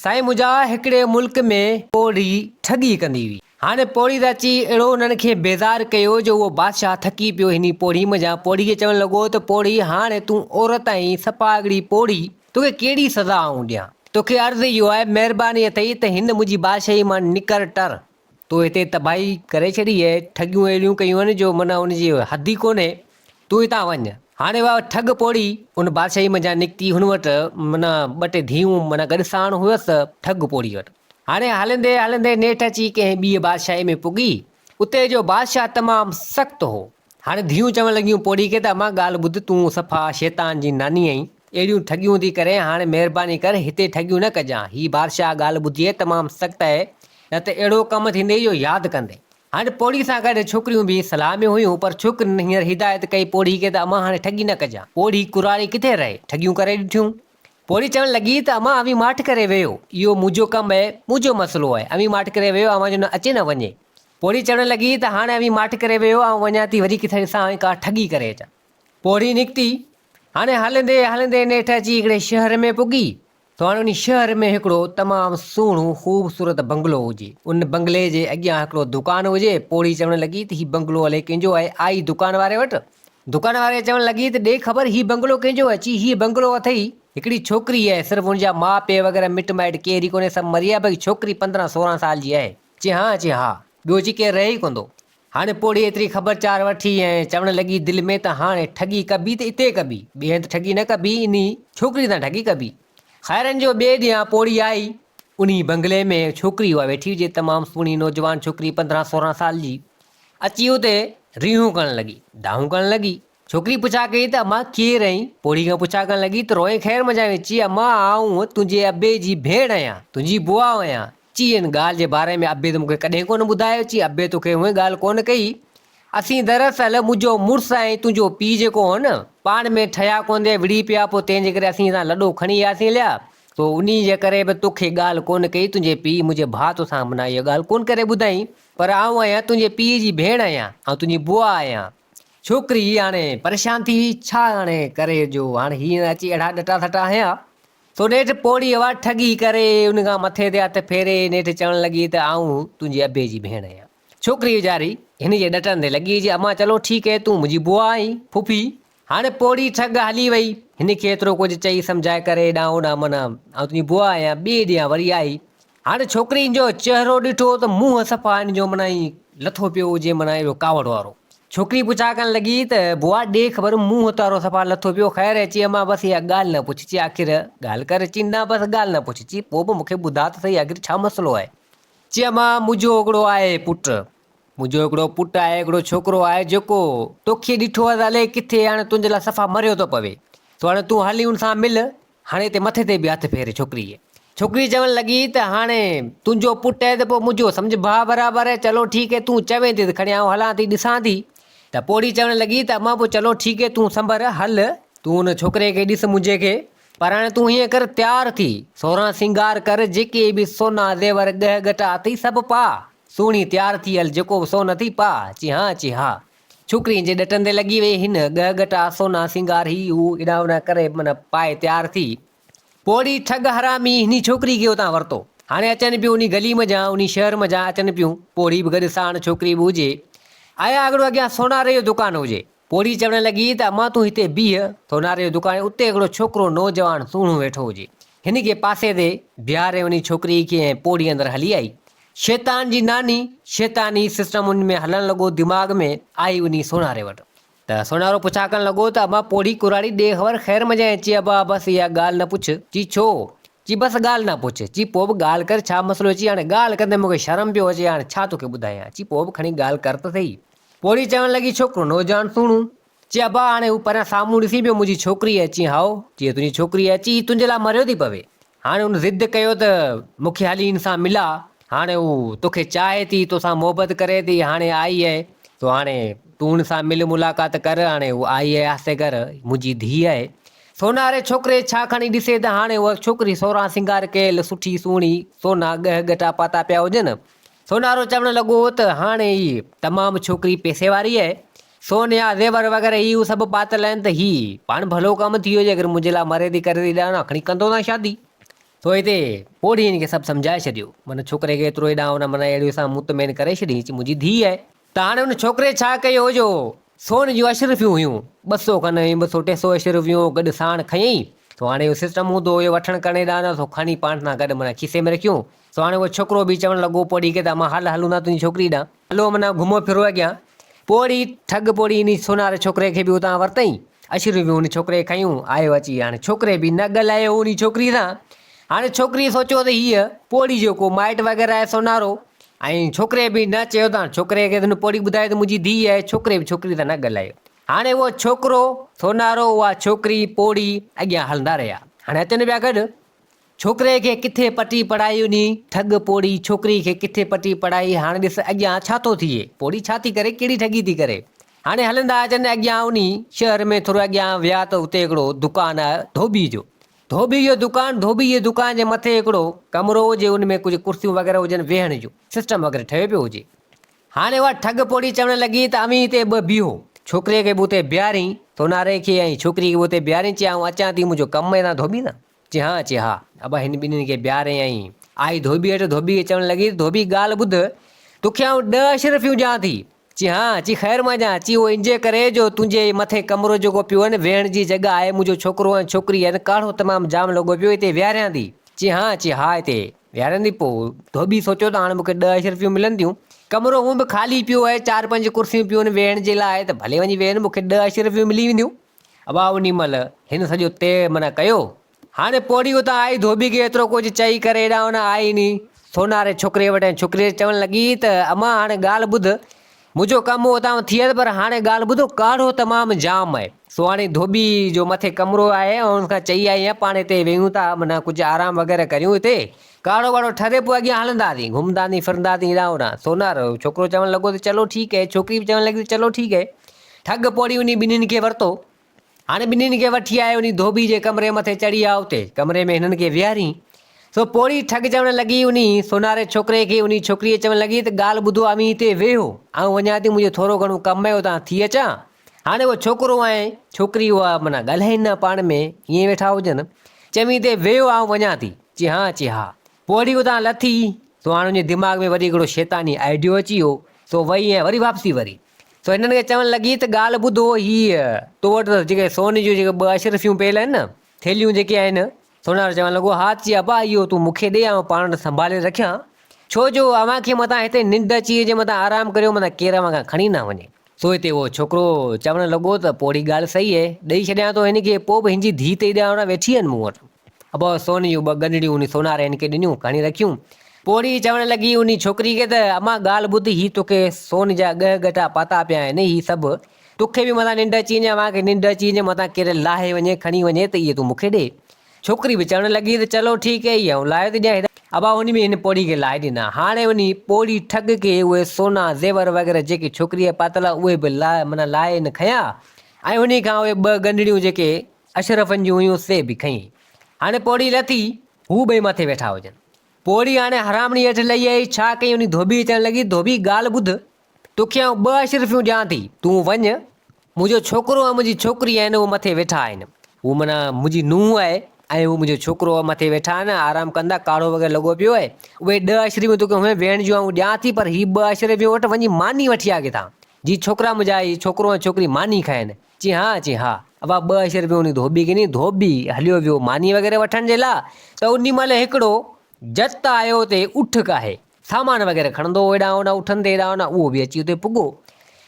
سائين منهنجا هڪڙي ملڪ ۾ پوڙهي ٺڳي ڪندي هئي هاڻي پوڙهي ته اچي اهڙو انهن کي بيزار ڪيو جو اهو بادشاهه ٿڪي پيو هني پوڙهي منجهان پوڙهي کي چوڻ لڳو ته پوڙهي هاڻي تون عورت آهين سپاهيڪڙي پوڙهي توکي ڪهڙي سزا آئون ڏيان توکي عرض اهو آهي مهرباني اٿئي ته هن منهنجي بادشاهي مان نڪر ٽر تو هتي تباهي ڪري ڇڏي اهي ٺڳيون اهڙيون ڪيون آهن جو معنيٰ ان جي حد ئي ڪونهي، تون هتان وڃ. هاڻي اها ٺڳ پوڙهي ان بادشاهي منجهان نڪتي هن وٽ معنيٰ ٻه ٽي ڌيئون معنيٰ گڏ ساڻ هيس ٺڳ پوڙهي وٽ. هاڻي هلندي هلندي نيٺ اچي ڪنهن ٻيء بادشاهي ۾ پڳي، اتي جو بادشاهه تمام سخت هو. هاڻي ڌيئون چوڻ لڳيون پوڙهي کي ته امان ڳالهه ٻڌ تون صفا شيطان جي ناني آهين، اهڙيون ٺڳيون ٿي ڪرين، هاڻي مهرباني ڪر هتي ٺڳيون نه ڪجان. هي بادشاهه ڳالهه ٻڌي تمام سخت اهي، نه ته اهڙو ڪم ٿيندي جو ياد ڪندي. هاڻي پوڙهي سان گڏ ڇوڪريون به صلاح ۾ هيون، پر ڇوڪرين هينئر هدايت ڪئي پوڙهي کي ته امان هاڻي ٺڳي نه ڪجان. پوڙهي ڪراري ڪٿي رهي، ٺڳيون ڪري ڏٺيون. پوڙهي چوڻ لڳي ته امان اوهين ماٺ ڪري ويهو، اهو منهنجو ڪم اهي، منهنجو مسئلو اهي، اوهين ماٺ ڪري ويهو اوهان جو نه اچي نه وڃي. پوڙهي چوڻ لڳي ته هاڻي اوهين ماٺ ڪري ويهو، آئون وڃان ٿي وري ڪٿي ڏسان اوهين ڪا ٺڳي ڪري اچان. پورهيي نڪتي، هاڻي هلندي هلندي نيٺ اچي هڪڙي شهر ۾ پڳي، سو هاڻي ان شهر ۾ هڪڙو تمام سهڻو خوبصورت بنگلو هجي، ان بنگلي جي اڳيان هڪڙو دڪان هجي، پورهيي چوڻ لڳي ته هي بنگلو الئي ڪنهن جو آهي، آئي دڪان واري وٽ، دڪان واري چوڻ لڳي ته ڏي خبر هي بنگلو ڪنهن جو آهي، چي هي بنگلو اٿئي هڪڙي ڇوڪري آهي، صرف ان جا ماء پيء وغيره مٽ مائٽ ڪير ئي ڪونهي، سڀ مري ويا، باقي ڇوڪري پندرهن سورهن سال جي آهي، چي هان، چي ها، ٻيو چي ڪير رهي ئي ڪوندو، هاڻي پوڙهي ايتري خبر چار وٺي ۽ چوڻ لڳي دل ۾ ته هاڻي ٺڳي ڪبي ته اتي ڪبي، ٻئي هنڌ ٺڳي نه ڪبي، انهي ڇوڪري سان ٺڳي ڪبي. خيرن جو ٻئي ڏينهن پوڙهي آئي. انهي بنگلي ۾ ڇوڪري اها ويٺي هجي، تمام سهڻي نوجوان ڇوڪري پندرهن سورهن سال جي. اچي اتي ريهون ڪرڻ لڳي. دانهون ڪرڻ لڳي. ڇوڪري پڇا ڪئي ته اما ڪير آهين؟ پوڙهي کان پڇا ڪرڻ لڳي ته روئي خير منجهائين چي اما آئون تنهنجي ابي جي ڀيڻ آهيان، تنهنجي بوا آهيان، چي ان ڳالهه جي باري ۾ ابي ته مون کي ڪڏهن ڪونه ٻڌايو. چي ابي تو کي اونهي ڳالهه ڪونه ڪئي. اسين دراصل منهنجو مڙس ۽ تنهنجو پيء جيڪو هو نه پاڻ ۾ ٺهيا ڪونه وڙهي پيا پوء تنهنجي ڪري اسين هتان لڏو کڻي اياسين هليا پوء انهي جي ڪري به تو کي ڳالهه ڪونه ڪئي تنهنجي پيء منهنجي ڀاء تو سان منا اها ڳالهه ڪونه ڪري ٻڌائين پر آئون آهيان تنهنجي پيء جي ڀيڻ آهيان آئون تنهنجي بوا آهيان. ڇوڪري هاڻي پريشان ٿي وئي ڇا هاڻي ڪري جو هاڻي هي نه اچي اهڙا ڏٽا سٽا هنيا سو نيٺ پوڙهي اها ٺڳي ڪري ان کان مٿي تي هٿ ڦيري نيٺ چوڻ لڳي ته آئون تنهنجي ابي جي ڀيڻ آهيان. ڇوڪري ويچاري هن جي ڏٽن تي لڳي چي امان چلو ٺيڪ هي تون منهنجي بوا آهين، ڦڦي. هاڻي پوڙهي ٺڳ هلي وئي. هن کي ايترو ڪجهه چئي سمجهائي ڪري ڏانهن اوڏانهن منا آئون تنهنجي بوا آهيان ٻيئي ڏينهن وري آئي هاڻي ڇوڪري ان جو چهرو ڏٺو ته منهن صفا ان جو معنيٰ ائين لٿو پيو هجي معنيٰ اهڙو ڪاوڙ وارو. ڇوڪري پڇا ڪرڻ لڳي ته بوا ڏي خبر منهن تارو صفا لٿو پيو خير اچي امان بس اها ڳالهه نه پڇجي آخر ڳالهه ڪر چي نه بس ڳالهه نه پڇجي پوء به مون کي ٻڌاء ته سهي آخر ڇا مسئلو آهي. چي امان منهنجو هڪڙو آهي پٽ منهنجو هڪڙو پٽ آهي هڪڙو ڇوڪرو آهي جيڪو توکي ڏٺو هو ته الئي ڪٿي هاڻي تنهنجي لاء صفا مريو ٿو پوي سو هاڻي تون هلي ان سان مل هاڻي تي مٿي تي به هٿ ڦير ڇوڪريء. ڇوڪري چوڻ لڳي ته هاڻي تنهنجو پٽ آهي ته پوء منهنجو سمجهه ڀاء برابر آهي، چلو ٺيڪ آهي تون چوين ٿي ته کڻي آئون هلان ٿي ڏسان ٿي ته پوڙهي چوڻ لڳي ته امان پوء چلو ٺيڪ آهي تون سنڀر هل، تون ان ڇوڪري کي ڏس منهنجي کي، پر هاڻي تون هيئن ڪر تيار ٿي سورهان سينگار ڪر جيڪي به سونا زيور ڳهه ڳٽا اٿئي سڀ پاء، سهڻي تيار ٿي هل جيڪو به سون اٿئي پاء، چي ها چي ها، ڇوڪريء جي ڏٽن تي لڳي ويئي هن، ڳهه ڳٽا، سونا، سينگار، هي هو، ايڏانهن اوڏانهن ڪري من پائي تيار ٿي. پوڙهي ٺڳ حرامي هني ڇوڪري کي اتان ورتو. هاڻي اچن پيون انهي گلي منجهان، انهي شهر منجهان اچن پيون، پوڙهي به گڏ ساڻ ڇوڪري به هجي. آيا هڪڙو اڳيان سوناري جو دڪان هجي. پوڙهي چوڻ لڳي ته امان تون هتي بيهه، سوناري جو دڪان اتي هڪڙو ڇوڪرو نوجوان سهڻو ويٺو هجي. هن کي پاسي تي بيهاري انهي ڇوڪري کي ۽ پوڙهي اندر هلي آئي. شيطان جي ناني شيطاني سسٽمن ۾ هلڻ لڳو دماغ ۾ آئي وڃي سونهاري وٽ ته سونهارو پڇا ڪرڻ لڳو ته ابا پوڙهي ڪراڙي ڏي خبر خير مجانء چي ابا بس اها ڳالهه نه پڇ چي ڇو چي بس ڳالهه نه پڇ چي پوء به ڳالهه ڪر ڇا مسئلو چي هاڻي ڳالهه ڪندي مون کي شرم پيو اچي هاڻي ڇا توکي ٻڌايان چي پوء به کڻي ڳالهه ڪر ته سهي پوڙهي چوڻ لڳي ڇوڪرو نوجوان سهڻو چيو ڀاء هاڻي هو پريان سامهون ڏسي پيو منهنجي ڇوڪري اچي هائو جيئن تنهنجي ڇوڪري اچي هي تنهنجي لاء مريو ٿي پوي هاڻي هن ضد ڪيو ته مون کي هلي هن سان ملا هاڻي هو توکي چاهي ٿي توسان محبت ڪري ٿي هاڻي آئي اهي سو هاڻي تون هن سان مل ملاقات ڪر هاڻي هو آئي اهي آهستي ڪر منهنجي ڌيء اهي سونهاري ڇوڪري ڇا کڻي ڏسي ته هاڻي هوء ڇوڪري سورهان سينگار ڪيل سٺي سهڻي سونا ڳهه ڳٽا پاتا پيا هجن سونارو چوڻ لڳو ته هاڻي هي تمام ڇوڪري پئسي واري آهي، سون يا زيور وغيره هي هو سڀ پاتل آهن ته هي پاڻ ڀلو ڪم ٿيو جيڪر منهنجي لاء مري ٿي ڪري ٿي ڏانهن آکڻي ڪندو نه شادي. سو هتي پوڙهي هن کي سڀ سمجهائي ڇڏيو. من ڇوڪري کي ايترو هيڏانهن هوڏانهن من اهڙيء سان مطمئن ڪري ڇڏينس چي منهنجي ڌيء آهي. ته هاڻي ان ڇوڪري ڇا ڪيو جو سون جون اشرفيون هيون ٻه سو کن هيون ٻه سو ٽي سو اشرفيون گڏ ساڻ کنيئي سو هاڻي اهو سسٽم هوندو هيو وٺڻ ڪرڻي ڏاندا سو کڻي پاڻ سان گڏ معنيٰ کيسي ۾ رکيون سو هاڻي اهو ڇوڪرو به چوڻ لڳو پوڙهي کي ته امان هل هلون ٿا تنهنجي ڇوڪري ڏانهن هلو معنيٰ گهمو ڦرو اڳيان پوڙهي ٺڳ پوڙهي ان سونار ڇوڪري کي به اتان ورتئين اشرفيون ان ڇوڪري کنيون آيو اچي هاڻي ڇوڪري به نه ڳالهايو هو ان ڇوڪري سان هاڻي ڇوڪري سوچيو ته هيء پوڙهي جو ڪو مائٽ وغيره آهي سونارو ۽ ڇوڪري به نه چيو ته هاڻي ڇوڪري کي هن پوڙهي ٻڌائي ته منهنجي ڌيء آهي ڇوڪري به ڇوڪري سان نه ڳالهايو هاڻي اهو ڇوڪرو سونارو اها ڇوڪري پوڙهي اڳيان هلندا رهيا هاڻي اچن پيا گڏ ڇوڪري کي ڪٿي پٽي پڙهائي انهي ٺڳ پوڙهي ڇوڪري کي ڪٿي پٽي پڙهائي هاڻي ڏس اڳيان ڇا ٿو ٿئي پوڙهي ڇا ٿي ڪري ڪهڙي ٺڳي ٿي ڪري هاڻي هلندا اچن اڳيان انهي شهر ۾ ٿورو اڳيان ويا ته اتي هڪڙو دڪان آهي ڌوٻي جو ڌوٻي جو دڪان، ڌوٻي جي دڪان جي مٿي هڪڙو ڪمرو هو جي ان ۾ ڪجهه ڪرسيون وغيره هجن ويهڻ جو سسٽم وغيره ٺهيو پيو هجي. هاڻي اها ٺڳ پوڙهي چوڻ لڳي ته اوهين هتي ٻه بيهو، ڇوڪريء کي به اتي بيهارين، سوناري کي ۽ ڇوڪري کي به اتي بيهارين چي آئون اچان ٿي منهنجو ڪم ۾ تان ڌوٻي نه چي هان چي ها. ابا هن ٻنهين کي بيهاري ۽ آئي ڌوٻي هيٺ ڌوٻي کي چوڻ لڳي ته ڌوٻي ڳالهه ٻڌ توکي آئون ڏهه اشرفيون ڏيان ٿي چي ها، چي خير مان جان، چي اهو انجي ڪري جو تنهنجي هي مٿين ڪمرو جيڪو پيو هين ويهڻ جي جڳهه آهي منهنجو ڇوڪرو ۽ ڇوڪري هين ڪاڙهو تمام جام لڳو پيو هتي ويهاريان ٿي چي ها، چي ها هتي ويهاريان ٿي پوء ڌوٻي سوچيو ته هاڻ مون کي ڏهه اشرفيون ملن ٿيون ڪمرو هونء به خالي پيو هين چار پنج ڪرسيون پيون هين ويهڻ جي لاء ته ڀلي وڃي ويهين مون کي ڏهه اشرفيون ملي وينديون اها انهي مهل هن سڄو طئي معنيٰ ڪيو هاڻي پوڙهي اتان آئي ڌوٻي کي ايترو ڪجهه چئي ڪري هيڏانهن هونئن آئي ئي نهين. سوناري ڇوڪري وٽ ۽ ڇوڪري چوڻ لڳي ته امان هاڻي ڳالهه ٻڌ، منهنجو ڪم هو اتان ٿي آيس پر هاڻي ڳالهه ٻڌو ڪاڙهو تمام جام آهي. سهاڻي ڌوٻي جو مٿي ڪمرو آهي ۽ ان کان چئي آئي آهيان پاڻ هتي ويهون ٿا معنيٰ ڪجهه آرام وغيره ڪريون هتي، ڪاڙهو واڙهو ٺري پوء اڳيان هلنداسين، گهمنداسين ڦرنداسين هيڏانهن هوڏانهن. سونارو ڇوڪرو چوڻ لڳو ته چلو ٺيڪ هي، ڇوڪري به چوڻ لڳي ته چلو ٺيڪ هي. ٺڳ پوڙهي وڃي ٻنهين کي ورتو. هاڻي ٻنهين کي وٺي آء انهي ڌوٻي جي ڪمري مٿي چڙهي آ اتي ڪمري ۾ هنن کي ويهارين. سو پوڙهي ٺڳ چوڻ لڳي انهي سوناري ڇوڪري کي انهي ڇوڪريء چوڻ لڳي ته ڳالهه ٻڌو اوهين هتي ويهو آئون وڃان ٿي منهنجو ٿورو گهڻو ڪم آهي اتان ٿي اچان هاڻي اهو ڇوڪرو ۽ ڇوڪري اها معنيٰ ڳالهائين نه پاڻ ۾ ائين ويٺا هجن چوين اتي ويهو آئون وڃان ٿي چي ها چي ها پوڙهي اتان لٿي سو هاڻي انهي دماغ ۾ وري هڪڙو شيطاني آئيڊيو اچي ويو سو وئي ۽ وري واپسي وري سو هنن کي چوڻ لڳي ته ڳالهه ٻڌو هيء تو وٽ ته جيڪي سون جون جيڪي ٻه اشرفيون پيل آهن نه، ٿيلهيون جيڪي آهن. سونهار چوڻ لڳو، ها چي ابا اهو تون مون کي ڏي آئون پاڻ وٽ سنڀالي رکيان، ڇو جو اوهان کي متان هتي ننڊ اچي وئي هجي متان آرام ڪريو متان ڪير اوهان کان کڻي نه وڃي. سو هتي اهو ڇوڪرو چوڻ لڳو ته پوڙهي ڳالهه صحيح اهي، ڏئي ڇڏيان ٿو هن کي، پوء به هن جي ڌيء ته ايڏا اڻا ويٺي آهن مون وٽ. ابو سون جون ٻه ڳنڍڙيون انهي سوناري هن کي ڏنيون، کڻي رکيون. پوڙهي چوڻ لڳي انهي ڇوڪري کي ته، امان ڳالهه ٻڌ، هي توکي سون جا ڳهه ڳٽا پاتا پيا آهن، هي سڀ، توکي به متان ننڊ اچي وڃي، اوهان کي ننڊ اچي وڃي، متان ڪير لاهي وڃي، کڻي وڃي ته اهي تون مون کي ڏي. ڇوڪري به چوڻ لڳي ته، چلو ٺيڪ اهي آئون لاهي ٿي ڏيان. ابا سون به هن پوڙهي کي لاهي ڏنا. هاڻي انهي پوڙهي ٺڳ کي اهي سونا، زيور وغيره جيڪي ڇوڪريء پاتل هئا، اهي به لاهي، معنيٰ لاهي هن کنيا ۽ انهي کان اهي ٻه ڳنڍڙيون جيڪي اشرفن جون هيون سي به کنئي. هاڻي پوڙهي لٿي، هو ٻئي مٿي ويٺا هجن. پوڙهي هاڻي حرامڙي هيٺ لهي آئي، ڇا ڪيئي انهي ڌوٻي کي چوڻ لڳي، ڌوٻي ڳالهه ٻڌ، توکي آئون ٻه اشرفيون ڏيان ٿي، تون وڃ، منهنجو ڇوڪرو ۽ منهنجي ڇوڪري آهن، اهي مٿي ويٺا آهن. هو معنيٰ منهنجي نونهن آهي ۽ هو منهنجو ڇوڪرو آهي، مٿي ويٺا آهن، آرام ڪندا، ڪاڙهو وغيره لڳو پيو آهي، اهي ڏهه اشرفيون توکي هونئن ويهڻ جون آئون ڏيان ٿي، پر هي ٻه اشرفيون وٺ، وڃي ماني وٺي آ ڪٿان، جي ڇوڪرا منهنجا هي ڇوڪرو ۽ ڇوڪري ماني کائين. چي ها چي ها ابا ٻه اشر به انهي ڌوٻي کي ڏني ڌوٻي هليو ويو ماني وغيره وٺڻ جي لا ته انهي مهل هڪڙو جت آيو تي اٺ ڪاهي سامان وغيره کڻندو هو هيڏانهن هوڏانهن اٺن تي هيڏانهن هوڏانهن اهو به اچي اتي پڳو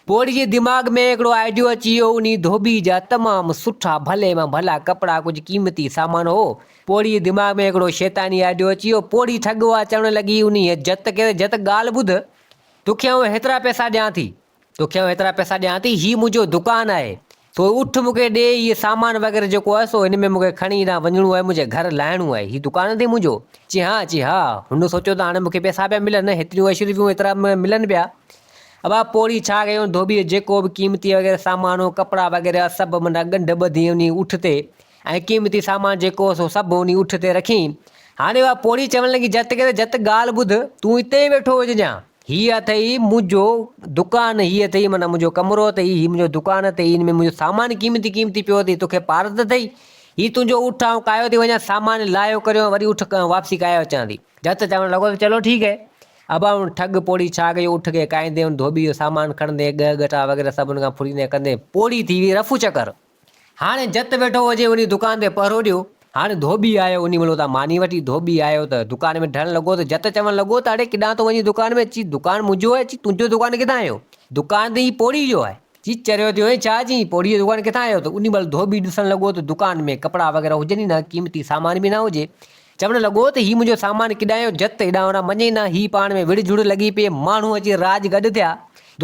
پوڙهي جي دماغ ۾ هڪڙو آئيڊيو اچي ويو انهي ڌوٻي جا تمام سٺا ڀلي مان ڀلا ڪپڙا ڪجهه قيمتي سامان هو پوڙهي جي دماغ ۾ هڪڙو شيطاني آئيڊيو اچي ويو پوڙهي ٺڳ هئا چوڻ لڳي انهي جت کي ته جت ڳالهه ٻڌ توکي آئون هيترا پئسا ڏيان ٿي توکي آئون ايترا پئسا ڏيان ٿي، هي منهنجو دڪان آهي، تو اٺ مون کي ڏي، هيء سامان وغيره جيڪو آهي سو هن ۾ مون کي کڻي هيڏانهن وڃڻو آهي، منهنجي گهر لهڻو آهي، هي دڪان اٿئي منهنجو؟ چي ها، چي ها، هن سوچيو ته هاڻي مون کي پئسا پيا ملن، هيتريون عيش ريون هيترا ملن پيا. ابا پوڙهي ڇا ڪيائون، ڌوٻيء جو جيڪو به قيمتي وغيره سامان هو، ڪپڙا وغيره سڀ منا ڳنڍ ٻڌي انهيء اٺ تي ۽ قيمتي سامان جيڪو هو سو سڀ انهيء اٺ تي رکيائين. هاڻي اها پوڙهي چوڻ لڳي، جت ڪري جت ڳالهه ٻڌ، تون اتي ئي ويٺو هججان. هيء اٿئي منهنجو دڪان، هيء اٿئي معنيٰ منهنجو ڪمرو اٿئي، هيء منهنجو دڪان اٿئي، ان ۾ منهنجو سامان قيمتي قيمتي پيو اٿئي، توکي پارت اٿئي؟ هيء تنهنجو اٺ، آئون ڪاهيو ٿي وڃان، سامان لاهيو ڪريو ۽ وري اٺ واپسي ڪاهيو اچان ٿي. جت چوڻ لڳو ته چلو ٺيڪ هي. اباڻون ٺڳ پوڙهي ڇا ڪيو، اٺ کي ڪاهيندي ان ڌوٻي جو سامان کڻندي، ڳهه ڳٽا وغيره سڀ ان کان ڦريندي ڪندي پوڙهي ٿي ويئي رفو چڪر. هاڻي جت ويٺو هجي وڃي دڪان تي پهرو ڏيو. هاڻي ڌوٻي آيو انهي ملو تان ماني وٺي ڌوٻي آيو ته دڪان ۾ ڍڻ لڳو ته جت چوڻ لڳو ته اڙي ڪيڏانهن ٿو وڃين دڪان ۾؟ چي دڪان منهنجو آهي چي تنهنجو دڪان ڪٿان آيو؟ دڪان ته هي پوڙهي جو آهي. چي چريو ٿيو آهين ڇا؟ چي پوڙهي جو دڪان ڪٿان آيو ته انهي مهل ڌوٻي ڏسڻ لڳو ته دڪان ۾ ڪپڙا وغيره هجن ئي نه قيمتي سامان به نه هجي چوڻ لڳو ته هي منهنجو سامان ڪيڏانهن جو جت هيڏانهن هوڏانهن مڃي نه، هي پاڻ ۾ وڙهه جهڙ لڳي پيئي، ماڻهو اچي راڄ گڏ ٿيا،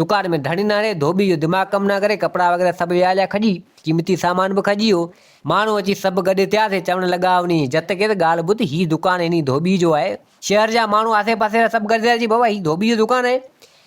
دڪان ۾ ڌڻي نه رهي، ڌوٻي جو دماغ ڪم نه ڪري، ڪپڙا وغيره سڀ ويهاريا کڄي، قيمتي سامان به کڄي ويو، ماڻهو اچي سڀ گڏ ٿيا سي چوڻ لڳا انهيء جت کي ته ڳالهه ٻڌ هي دڪان انهيء ڌوٻي جو آهي، شهر جا ماڻهو آسي پاسي وارا سڀ گڏ ٿيا سي چئي بابا هي ڌوٻي جو دڪان آهي،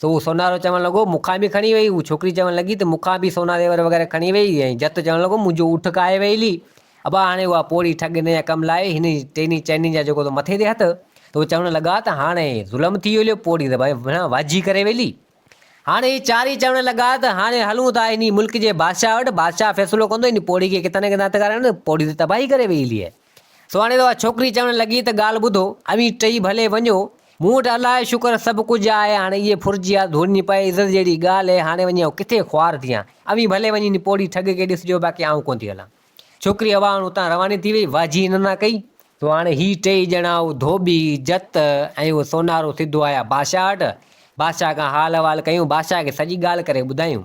سو اهو سونارو چوڻ لڳو، مون کان به کڻي وئي. اها ڇوڪري چوڻ لڳي ته مون کان به سونا زيور وغيره کڻي وئي ۽ جت چوڻ لڳو، منهنجو اٺ کائي وئي لي. ابا هاڻي اها پوڙهي ٺڳ هن جا ڪم لائي هن جي ٽيني چئني جا جيڪو تو مٿي تي هٿ ته اهي چوڻ لڳا ته هاڻي ظلم ٿي ويو لي پوڙهي ته ڀانء وڻ واجهي ڪري وئي لي. هاڻي اهي چارئي چوڻ لڳا ته هاڻي هلون ٿا انهي ملڪ جي بادشاهه وٽ، بادشاهه فيصلو ڪندو انهي پوڙهي کي ڪٿان نه ڪٿان هٿ ڪرائڻ، پوڙهي ته تباهي ڪري وئي لي. سهڻي اها ڇوڪري چوڻ لڳي ته ڳالهه ٻڌو، اوهين ٽئي ڀلي وڃو، مون وٽ الله جو شڪر سڀ ڪجهه آهي، هاڻي اهي ڦرجيا ڌوڙني پئي عزت جهڙي ڳالهه هاڻي وڃي آئون ڪٿي خوار ٿيان، اوهين ڀلي وڃي ان پوڙهي ٺڳ کي ڏسجو باقي آئون ڪونه ٿي هلان. ڇوڪري اهوائڻ اتان رواني ٿي وئي، واجهي ننا ڪئي. سو هاڻي هي ٽئي ڄڻا اهو ڌوٻي، جت ۽ اهو سونارو سڌو آيا بادشاهه وٽ، بادشاهه کان حال احوال ڪيون، بادشاهه کي سڄي ڳالهه ڪري ٻڌايون.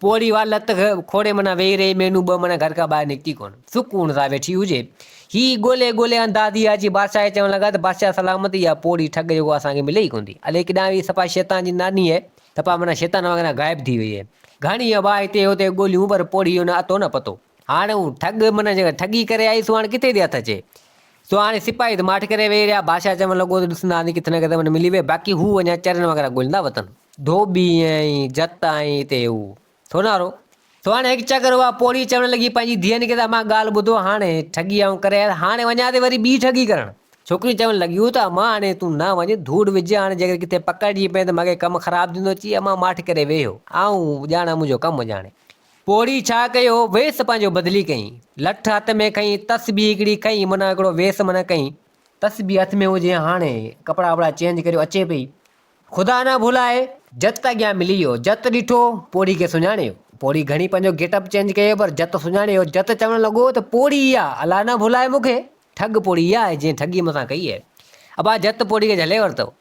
پوڙهي وار لت کوڙي منا ويهي رهي، مينون ٻه منا گهر کان ٻاهر نڪتي ڪونه. سڪون سان ويٺي هجي. هي ڳولي ڳولي اندازي آيا جي بادشاهه کي چوڻ لڳا ته بادشاهه سلامت اها پوڙهي ٺڳ جيڪو اسان کي ملي ئي ڪونه ٿي. الئي ڪيڏانهن ويئي سپا شيطان جي ناني اهي سپا منا شيطان وانگر غائب ٿي ويئي. گهڻي وار هتي هتي ڳوليون پر پوڙهي جو نه اٿو نه پتو. هاڻ هو ٺڳ من جيڪا ٺڳي ڪري آئي سو هاڻ ڪٿي ٿي هٿ اچي. سو هاڻ سپاهي ته ماٺ ڪري ويهي رهيا. بادشاهه چوڻ لڳو ته ڏسندا هانڌي ڪٿي نه ڪٿي من ملي وئي باقي هو اڃا چرن وغيره ڳوليندا وتن. ڌوٻي ۽ جت ۽ اتي هو سونارو. سو هاڻ هڪ چڪر اها پوڙهي چوڻ لڳي پنهنجي ڌيئن کي ته امان ڳالهه ٻڌو هاڻ ٺڳي آئون ڪري آيس هاڻ وڃان ٿي وري ٻي ٺڳي ڪرڻ. ڇوڪريون چوڻ لڳيون ته امان هاڻ تون نه وڃ ڌوڙ وجهه هاڻ جيڪڏهن ڪٿي پڪڙجي پئين ته مگهي ڪم خراب ٿيندو چي امان ماٺ ڪري ويهي هو آئون ڄاڻان منهنجو ڪم ڄاڻي. پوڙهي ڇا ڪيو، ويس پنهنجو بدلي ڪيائين. لٺ هٿ ۾ کنئي، تسبيح هڪڙي کنئي، منهن هڪڙو ويس منهن ڪيائين. تسبيح هٿ ۾ هجي هاڻي، ڪپڙا وپڙا چينج ڪريو اچي پئي. خدا نه ڀلائي، جت اڳيان ملي ويو. جت ڏٺو، پوڙهي کي سڃاڻي ويو. پوڙهي گهڻي پنهنجو گيٽ اپ چينج ڪيو، پر جت سڃاڻي ويو. جت چوڻ لڳو ته پوڙهي اها، الله نه ڀلائي مون کي. ٺڳ پوڙهي اها آهي، جنهن ٺڳي مون سان ڪئي آهي. ابا جت پوڙهي کي جهلي ورتو.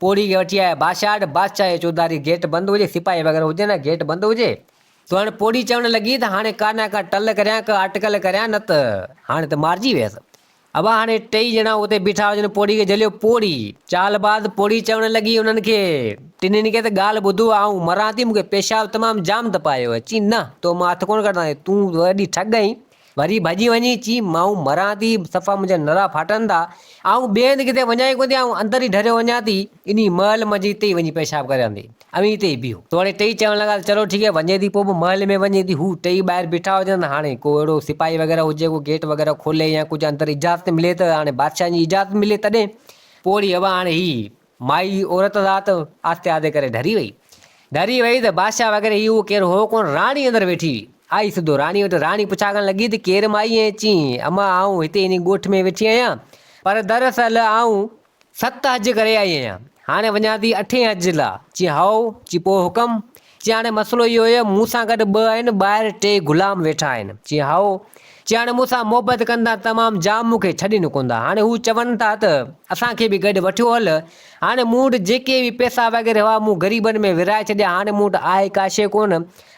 پوڙهي کي وٺي آيا باشاٽ، بادشاهه جي چوڌاري گيٽ بند هجي، سپاهي وغيره هجن ۽ گيٽ بند هجي. سو هاڻي پوڙهي چوڻ لڳي ته هاڻي ڪا نه ڪا ٽل ڪريان، ڪا اٽڪل ڪريان، نه ته هاڻي ته مارجي ويس. اڀا هاڻي ٽيئي ڄڻا اتي بيٺا هجن، پوڙهي کي جهليو. پوڙهي. چال باز پوڙهي چوڻ لڳي انهن کي، ٽنهين کي ته ڳالهه ٻڌو، آئون مران ٿي، مون کي پيشاب تمام جام تپايو آهي. چي نه، تو مان هٿ ڪونه ڪڍنداسين، تون وڏي ٺڳ آهين. وري ڀڄي وڃي چي، مائون مران ٿي، صفا منهنجا نرا ڦاٽن ٿا، آئون ٻئي هنڌ ڪٿي وڃان ئي ڪونه ٿي، آئون اندر ئي ڍريو وڃان ٿي، انهي محل منجهه هتي ئي وڃي پيشاب ڪريان ٿي، اوهين هتي ئي بيهو. توڙي ٽئي چوڻ لڳا ته چلو ٺيڪ آهي، وڃي ٿي، پوء به محل ۾ وڃي ٿي، هو ٽئي ٻاهر بيٺا هجن ته هاڻي ڪو اهڙو سپاهي وغيره هجي جيڪو گيٽ وغيره کولي يا ڪجهه اندر اجازت ملي ته هاڻي بادشاهن جي اجازت ملي تڏهن، پوڙهي هوا هاڻي هي مائي عورت ذات آھستي آھستي ڪري ڍري وئي. ڍري وئي ته بادشاھه وغيره ھي ھو ڪير ھو ڪونھ راڻي اندر ويٺي ھئي. آئي سڌو راڻي وٽ راڻي پڇاڳڻ لڳي ته ڪير مائي ۽ چيئين امان آئون ھتي انھي ڳوٺ ۾ ويٺي آھيان پر در اصل آئون ست حج ڪري آئي آھيان ھاڻي وڃان ٿي اٺين حج لا چيئين ھائو چيئين پوء حڪم چي هاڻي مسئلو اهو هي مون سان گڏ ٻه آهن ٻاهر ٽي غلام ويٺا آهن. چي هائو. چي هاڻي مون سان محبت ڪندا تمام جام مون کي ڇڏي نڪوندا هاڻي هو چون ٿا ته اسان کي به گڏ وٺيو هل هاڻي مون وٽ جيڪي به پيسا وغيره هئا مون غريبن ۾ ورهائي ڇڏيا هاڻي مون وٽ آهي ڪا شيء ڪون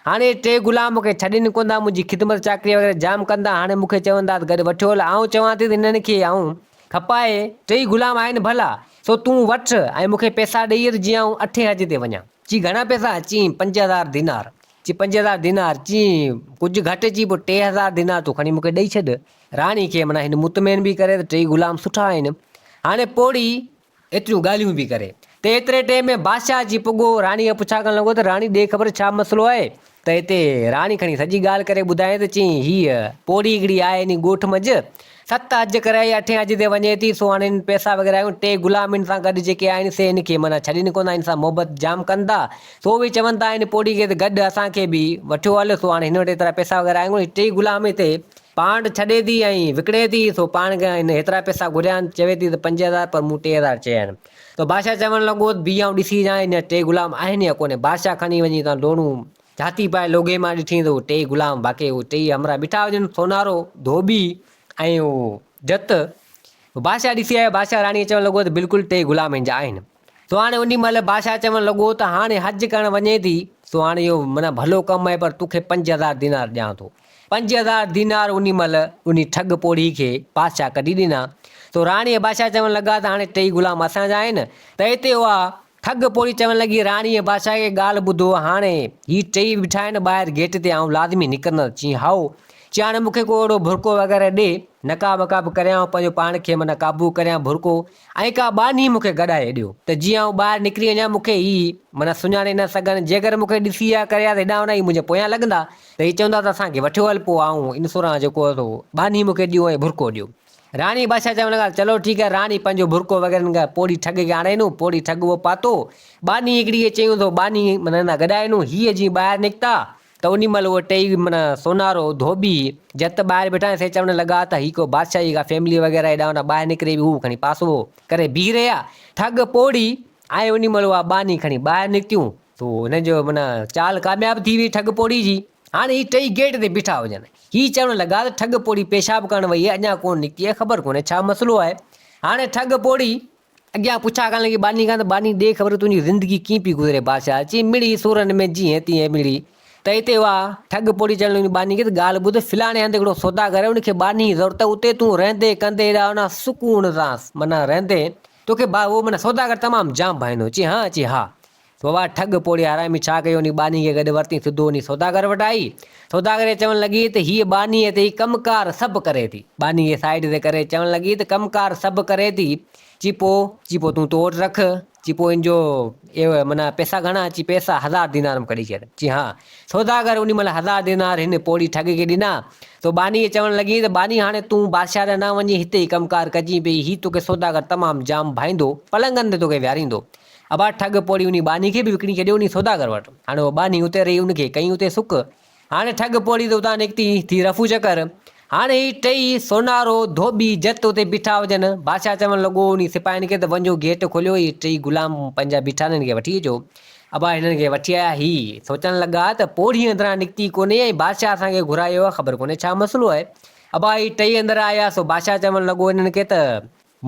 هاڻي ٽي غلام مون کي ڇڏي نڪوندا منهنجي خدمت چاڪري وغيره جام ڪندا هاڻي مون کي چون ٿا ته گڏ وٺيو هل آئون چوان ٿي ته هنن کي آئون کپائي ٽئي غلام آهن ڀلا سو تون وٺ ۽ مون کي پيسا ڏئي هل جيئن آئون اٺين حج تي وڃان. چي گهڻا پئسا؟ چين، پنج هزار دينار. چي پنج هزار دينار؟ چين، ڪجهه گهٽ. چي پوء ٽي هزار دينار تون کڻي مون کي ڏئي ڇڏ. راڻي کي معنيٰ هن مطمئن به ڪري ته ٽيئي غلام سٺا آهن. هاڻي پوڙهي ايتريون ڳالهيون به ڪري. ته ايتري ٽيم ۾ بادشاهه اچي پڳو. راڻيء کان پڇا ڪرڻ لڳو ته راڻي ڏي خبر ڇا مسئلو آهي؟ ته اتي راڻي کڻي سڄي ڳالهه ڪري ٻڌائين ته چيائين، هيء پوڙهي هڪڙي آهي انهي ڳوٺ منجهه ست حج ڪري ۽ اٺين حج تي وڃي ٿي، سو هاڻي هن پئسا وغيره آيون، ٽي غلام هن سان گڏ جيڪي آهن سي هن کي معنيٰ ڇڏين ڪونه ٿا، هن سان محبت جام ڪن ٿا، سو اهي چون ٿا هن پوڙهي کي ته گڏ اسان کي به وٺيو هل، سو هاڻي هن وٽ ايترا پئسا وغيره آهن ڪونه، ٽي غلام هتي پانڊ ڇڏي ٿي ۽ وڪڻي ٿي، سو پاڻ کان هن ايترا پئسا گهريا آهن، چوي ٿي ته پنج هزار پر مون ٽي هزار چيا آهن. ته بادشاهه چوڻ لڳو ته بيهه آئون ڏسي اچان هي ٽي غلام آهن يا ڪونه. بادشاهه کڻي وڃي اتان ڊوڙون جهاتي پائي لوگهي مان ڏٺيئين ته اهي ٽيئي غلام واقعي اهي ٽيئي همراهه بيٺا هجن، سونارو، ڌوٻي ۽ اهو جت. بادشاهه ڏسي آيو، بادشاهه راڻيء چوڻ لڳو ته بلڪل ٽيئي غلام هن جا آهن. سو هاڻي انهي مهل بادشاهه چوڻ لڳو ته هاڻي حج ڪرڻ وڃين ٿي، سو هاڻي اهو معنيٰ ڀلو ڪم آهي پر تو کي پنج هزار دينار ڏيان ٿو. پنج هزار دينار انهي مهل انهي ٺڳ پوڙهي کي بادشاهه ڪڍي ڏنا. سو راڻي ۽ بادشاهه چوڻ لڳا ته هاڻي ٽئي غلام اسان جا آهن. ته اتي اها ٺڳ پوڙهي چوڻ لڳي، راڻي ۽ بادشاهه کي ڳالهه ٻڌو، هاڻي هي ٽئي بيٺا آهن ٻاهر گيٽ تي آئون لازمي نڪرندس. چيائين، هائو! چي هاڻي مون کي ڪو اهڙو ڀرڪو وغيره ڏي، نقاب وقاب ڪريان ۽ پنهنجو پاڻ کي معنيٰ قابو ڪريان، ڀرڪو ۽ ڪا ٻانهي مون کي گڏائي ڏيو، ته جيئن آئون ٻاهر نڪري وڃان، مون کي هي معنيٰ سڃاڻي نه سگهن، جيڪر مون کي ڏسي يا ڪريا ته هيڏانهن هوڏانهن هي منهنجي پويان لڳندا، ته هي چوندا ته اسان کي وٺيو هل، پوء آئون ان سوران جيڪو اٿو، ٻانهي مون کي ڏيو ۽ ڀرڪو ڏيو. راڻي ۽ بادشاهه چون لڳا، چلو ٺيڪ آهي، راڻي پنهنجو ڀرڪو وغيره نئي ڪري پوڙهي ٺڳ کي آڻي ڏنو، پوڙهي ٺڳ اهو پاتو، ٻانهي هڪڙي کي چيون ته ٻانهي معنيٰ گڏائي ڏيون، هي جيئن ٻاهر نڪتا، ته انهي مهل اهي ٽئي معنيٰ سونارو، ڌوٻي، جت ٻاهر بيٺا ۽ سي چوڻ لڳا ته هي ڪو بادشاهه جي ڪا فيملي وغيره هيڏانهن هوڏانهن ٻاهر نڪري وئي هو کڻي پاسوو ڪري بيهي رهيا ٺڳ پوڙهي ۽ انهي مهل اها ٻانهي کڻي ٻاهر نڪتيون. سو هن جو معنيٰ چال ڪامياب ٿي وئي ٺڳ پوڙهي جي هاڻي هي ٽئي گيٽ تي بيٺا هجن هي چوڻ لڳا ته ٺڳ پوڙهي پيشاب ڪرڻ وئي اهي اڃان ڪونه نڪتي اهي خبر ڪونه ڇا مسئلو آهي هاڻي ٺڳ پوڙهي اڳيان پڇا ڪرڻ لڳي ٻانهي کان ته ٻانهي ڏي خبر تنهنجي زندگي ڪيئن پئي گذري بادشاهه چي مڙئي سورن ۾ جيئن تيئن مڙئي ته هتي اها ٺڳ پوڙهي چئڻ لڳي ٻانهي کي ته ڳالهه ٻڌ فلاڻي هنڌ هڪڙو سوداگر ان کي ٻانهي جي ضرورت اتي تون رهندي ڪندي ايڏا انا سڪون سان معنيٰ رهندي توکي ڀائي اهو معنيٰ سوداگر تمام جام ڀائيندو چي هان چي ها ووا ٺڳ پوڙهي حرامي ڇا ڪيو انهي ٻانهي کي گڏ ورتين سڌو انهي سوداگر وٽ آئي سوداگر کي چوڻ لڳي ته هيء ٻانهي تي ئي ڪم ڪار سڀ ڪري ٿي ٻانهي کي سائيڊ تي ڪري چوڻ لڳي ته ڪم ڪار سڀ ڪري ٿي چي پو چي پو تون تو وٽ رک چي پو ان جو ايو معنيٰ پيسا گهڻا چي پيسا هزار دينار م ڪڍي ڇڏ چي ها سوداگر انهي مهل هزار دينار هن پوڙهي ٺڳ کي ڏنا سو ٻانهي چوڻ لڳي ته ٻانهي هاڻي تون بادشاهه ڏانهن نه وڃين هتي ئي ڪم ڪار ڪجين پئي هي توکي سوداگر تمام جام ڀائيندو پلنگن تي توکي ويهاريندو ابا ٺڳ پوڙهي انهي ٻانهي کي به وڪڻي ڇڏيو انهي سوداگر وٽ. هاڻي اها ٻانهي اتي رهي ان کي ڪيئي اتي سڪ. هاڻي ٺڳ پوڙهي تي اتان نڪتي ٿي رفو چڪر. هاڻي هي ٽئي، سونارو، ڌوٻي، جت اتي بيٺا هجن. بادشاهه چوڻ لڳو انهي سپاهين کي ته وڃو گيٽ کوليو هي ٽئي غلام پنهنجا بيٺا آهن هنن کي وٺي اچو. ابا هنن کي وٺي آيا. هي سوچڻ لڳا ته پوڙهي اندران نڪتي ڪونهي ۽ بادشاهه اسان کي گهرايو آهي خبر ڪونهي ڇا مسئلو آهي. ابا هي ٽئي اندر آيا سو بادشاهه چوڻ لڳو انهن کي ته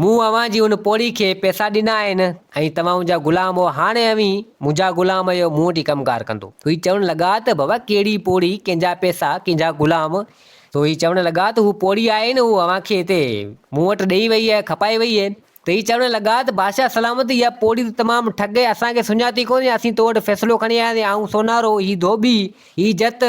مون اوهان جي ان پوڙهي کي پئسا ڏنا آهن ۽ توهان منهنجا غلام هئا، هاڻي اوهين منهنجا غلام آهيو، مون وٽ ئي ڪم ڪار ڪندو. سو هي چوڻ لڳا ته بابا ڪهڙي پوڙهي، ڪنهن جا پئسا، ڪنهن جا غلام؟ سو هي چوڻ لڳا ته هوء پوڙهي آهي نه، هوء اوهان کي هتي مون وٽ ڏيئي وئي آهي، کپائي وئي آهي. ته هي چوڻ لڳا ته بادشاهه سلامت، اها پوڙهي ته تمام ٺڳ آهي، اسان کي سڃاتي ڪونهي، اسين تو وٽ فيصلو کڻي آياسين، آئون سونارو، هي ڌوٻي، هي جت،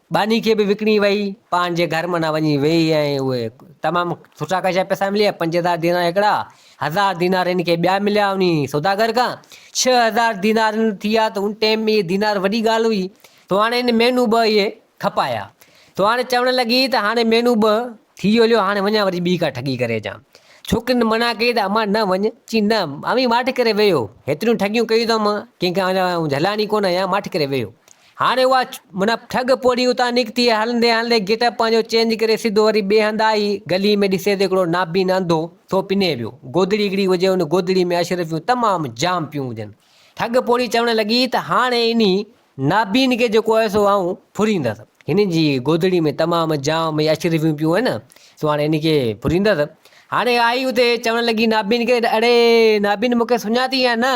ٻانهي کي به وڪڻي ويئي پاڻ جي گهر معنيٰ وڃي ويئي ۽ اهي تمام سٺا خاشا پئسا مليا پنج هزار دينار هڪڙا هزار دينار هن کي ٻيا مليا انهي سوداگر کان ڇهه هزار دينار هن ٿيا ته ان ٽيم ۾ اهي دينار وڏي ڳالهه هئي تو هاڻي هن مهينو ٻه اهي کپايا تو هاڻي چوڻ لڳي ته هاڻي مهينو ٻه ٿي هليو هاڻي وڃان وري ٻي ڪا ٺڳي ڪري اچان ڇوڪرين منا ڪئي ته امان نه وڃ چي نه اوهين ماٺ ڪري ويهو هيتريون ٺڳيون ڪيون اٿم ڪنهن کان جهلائڻي ڪونه يا ماٺ ڪري ويهو هاڻي اها منا ٺڳ پوڙهي اتان نڪتي ۽ هلندي هلندي گيٽ اپ پنهنجو چينج ڪري سڌو وري ٻئي هنڌ آئي، گلي ۾ ڏسي ته هڪڙو نابين انڌو ٿو پني ويو، گودڙي هڪڙي هجي ان گودڙي ۾ اشرفيون تمام جام پيون هجن. ٺڳ پوڙهي چوڻ لڳي ته هاڻي انهي نابين کي جيڪو آهي سو آئون ڦريندس، هن جي گودڙي ۾ تمام جام هي اشرفيون پيون هين سو هاڻي هن کي ڦريندس، هاڻي آئي اتي چوڻ لڳي نابين کي اڙي نابين مون کي سڃاتين يا نه؟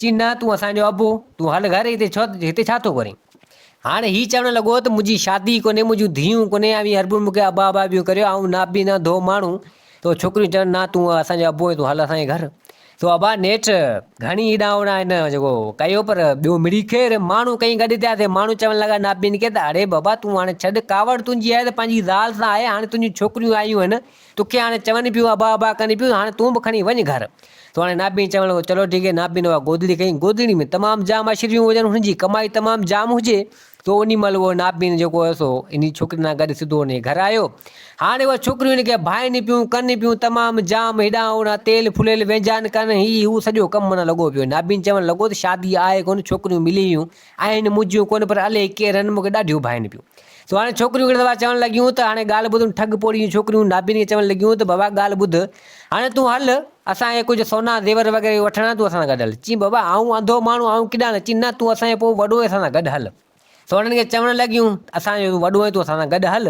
چي نه تون اسان جو ابو، تون هل گهر هتي ڇو هتي ڇا ٿو ڪرين؟ هاڻ هي چوڻ لڳو ته منهنجي شادي ڪونهي، منهنجون ڌيئون ڪونهي، اوهين هر ڀل مون کي ابا ابا پيون ڪريو، آئون نابينا ڌو ماڻهو تو ڇوڪريون چون نه تون اسان جو ابو آهين تون هل اسان جي گهر. تو ابا نيٺ گهڻي هيڏانهن هوڏانهن هن جيڪو ڪيو پر ٻيو مڙئي خير ماڻهو ڪئين گڏ ٿيا سي ماڻهو چوڻ لڳا نابين کي ته اڙي بابا تون هاڻي ڇڏ ڪاوڙ تنهنجي آهي ته پنهنجي زال سان آهي هاڻي تنهنجون ڇوڪريون آيون آهن توکي هاڻي چون پيون ابا ابا ڪن پيون هاڻي تون به کڻي وڃ گهر. تو هاڻي نابين چوڻ لڳو چلو ٺيڪ هي نابين اها گودڙي کئي گودڙي ۾ تمام جام اشرفيون هجن هن جي ڪمائي تمام جام هجي تو انهي مهل اهو نابين جيڪو هيو سو انهي ڇوڪري سان گڏ سڌو انهي گهر آيو هاڻي اهي ڇوڪريون هن کي ڀائين پيون ڪن پيون تمام جام هيڏانهن هوڏانهن تيل ڦليل وينجهان ڪن هي هو سڄو ڪم منا لڳو پيو نابين چوڻ لڳو ته شادي آهي ڪونه ڇوڪريون ملي ويون آهن منهنجيون ڪونه پر الئي ڪير هن مون کي ڏاڍيون ڀائين پيون. سو هاڻي ڇوڪريون کڻي دفعا چوڻ لڳيون ته هاڻي ڳالهه ٻڌ ان ٺڳ پوڙهي جون ڇوڪريون نابين کي چوڻ لڳيون ته بابا ڳالهه ٻڌ هاڻي تون هل اسان کي ڪجهه سونا زيور وغيره به وٺڻا تون اسان سان گڏ هل چين بابا آئون انڌو ماڻهو آئون ڪيڏانهن هلان چين نه تون اسان کي پوء وڏو آهين اسان سان گڏ هل سو هنن کي چوڻ لڳيون ته اسان جو تون وڏو آهين تون اسان سان گڏ هل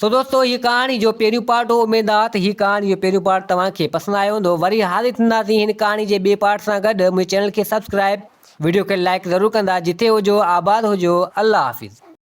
سو دوستو هي ڪهاڻي جو پهريون پارٽ هو اميد آ ته هي ڪهاڻي جو پهريون پارٽ توهان کي پسند آيو هوندو وري حاضر ٿينداسين هن ڪهاڻي جي ٻئي پارٽ سان گڏ منهنجي چينل کي سبسڪرائيب وڊيو کي لائيڪ ضرور ڪندا جتي هجو آباد هجو الله حافظ.